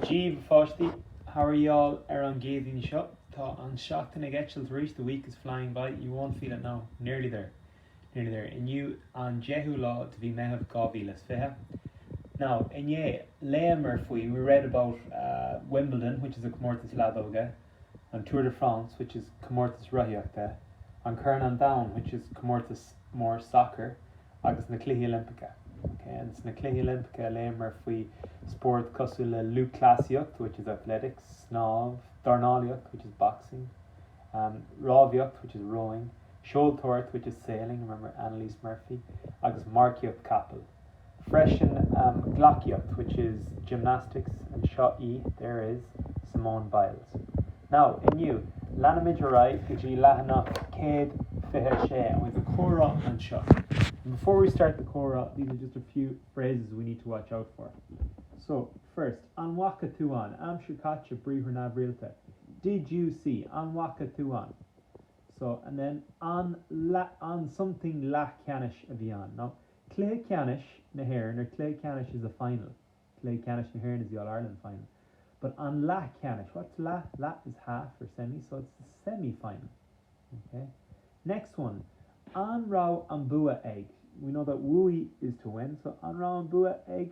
Dia daoibh, a pháistí! How are y'all ar an gCéadaoin seo? Tá an tseachtain ag eitilt arís The week is flying by, you won't feel it now. Nearly there. Nearly there. Inniu an 10ú lá de mhí Meitheamh 2020. Now, inné, léamar faoi, we read about, Wimbledon, which is a comórtas leadóige. an Tour de France, which is comórtas rothaíochta, an Corn an Domhain, which is comórtas mór sacair, agus na Cluichí Oilimpeacha. Ok, and sna Cluichí Oilimpeacha léamar faoi spóirt cosúil le lúthchleasaíocht, which is athletics, snámh, dornálaíocht, which is boxing, em, rámhaíocht, which is rowing, seoltóireacht, which is sailing, remember Annalise Murphy, agus marcaíocht capaill. freisin gleacaíocht which is gymnastics and seo í, there is Simone Biles. Now, inniu, leanfaimid ar aghaidh go dtí leathanach 126 and we have a comhrá anseo. And before we start the comhrá these are just a few phrases we need to watch out for. So, first, an bhfaca tú an, aimsir caite, briathra neamhrialta, Did you see? an bhfaca tú an? So, and then an, an something leathcheannais a bhí ann, nó Cluiche Ceannais na hÉireann or Cluiche Ceannais is a final, Cluiche Ceannais na hÉireann is the All-Ireland final, but An Leath Ceannais, what's leath? Leath is half or semi, so it's the semi-final. Ok? Next one, An raibh an bua ag? We know that bhuaigh is to win, so An raibh an bua ag?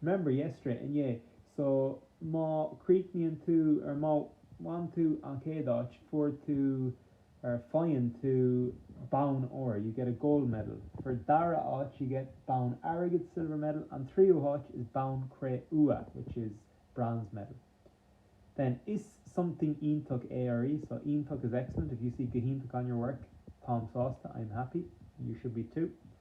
Remember yesterday, inné, so má chríochnaíonn tú or má bhain tú an chéad áit fuair tú or faigheann tú bonn óir you get a gold medal for dara áit you get bonn airgid silver medal and tríú háit is bonn cré-umha which is bronze medal. Then Is something iontach é or í, so iontach is excellent if you see go hiontach on your work táim sásta I'm happy you should be too.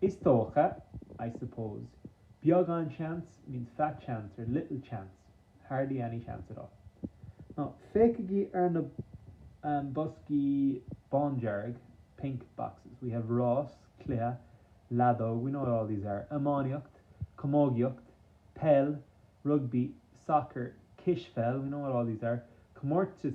Is dócha, I suppose. Beagán seans means fat chance or little chance, hardly any chance at all. Now, féachaigí ar na boscaí bándearg, pink boxes. We have rás, cluiche, leadóg, we know what all these are, iománaíocht, camógaíocht, peil, rugby, soccer, cispheil, we know what all these are, comórtas,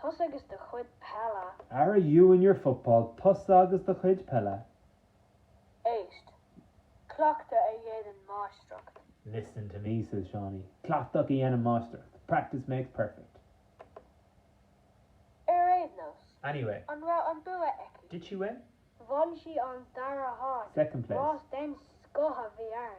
tusa agus do chuid peile. Ara you and your football, tusa agus do chuid peile. Éist, cleachtadh a dhéanann máistreacht. Listen to me, says Seánie. Cleachtadh a dhéanann máistreacht, practice makes perfect. Ar aon nós, Anyway. an raibh an bua aici? Did she win? Bhain sí an dara háit. Second place. Rás den scoth a bhí ann.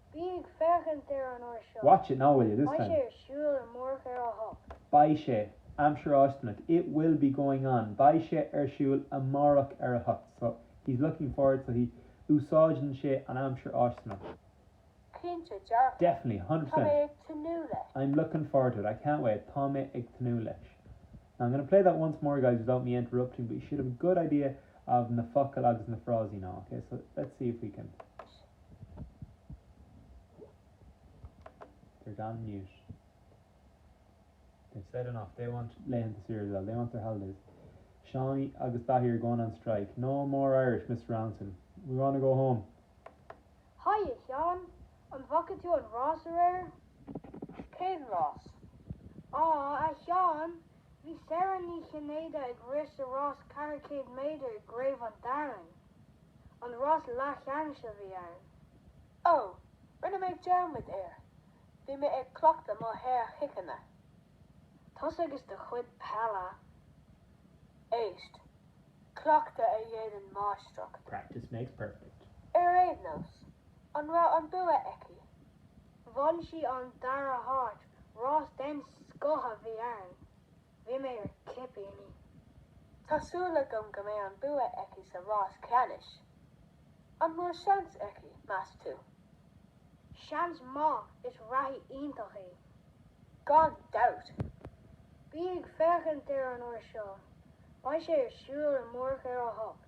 Bí ag féachaint air an uair seo. Watch it now, will you, this time. Beidh sé ar siúl amárach ar a hocht. Beidh sé, aimsir fháistineach. It will be going on. Beidh sé ar siúl amárach ar a hocht. So, he's looking forward, so he úsáideann sé an aimsir fháistineach. Cinnte, dearfa. Definitely, a hundred percent. Tá mé ag tnúth leis. I'm looking forward to it. I can't wait. Tá mé ag tnúth leis. Now, I'm gonna play that once more, guys, without me interrupting, but you should have a good idea of na focail agus na frásaí now, okay? So, let's see if we can. Is, They're down mute. They've said enough. They want laethanta saoire as well. They want their holidays. Seánie agus Daithí are going on strike. No more Irish, Mr Robinson. We want to go home. Haigh a Sheáin, an bhfaca tú an rás aréir? Cén rás? Á, a Sheáin, bhí Sarah Ní Chinnéide ag rith sa rás 400 méadar i gCraobh an Domhain. An rás leathcheannais a bhí ann. Ó, rinne mé dearmad air. Bhí mé ag cleachtadh mo shaorchiceanna. Tusa agus do chuid peile. Éist. Cleachtadh a dhéanann máistreacht. Practice makes perfect. Ar aon nós, an raibh an bua aici? Bhain sí an dara háit, rás den scoth a bhí ann. Bhí mé ar cipíní. Tá súil agam go mbeidh an bua aici sa rás ceannais. An bhfuil seans aici, meas tú? Seans maith, is reathaí iontach í. Gan dabht. Bí ag féachaint air an uair seo, beidh sé ar siúl amárach ar a hocht.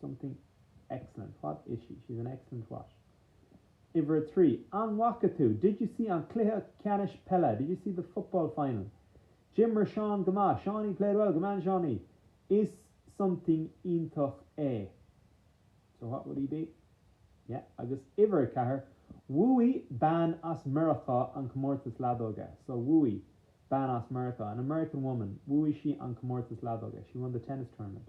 something excellent, what is she? She's an excellent what? Uimhir a trí, An bhfaca tú, did you see an cluiche ceannais peile, did you see the football final? D'imir Seán go maith, Seánie played well. Good man, Seánie. Is something iontach é. So what would he be? Yeah. Agus uimhir a ceathair, Bhuaigh bean as Meiriceá an comórtas leadóige. So Bhuaigh bean as Meiriceá, an American woman, bhuaigh sí an comórtas leadóige, she won the tennis tournament.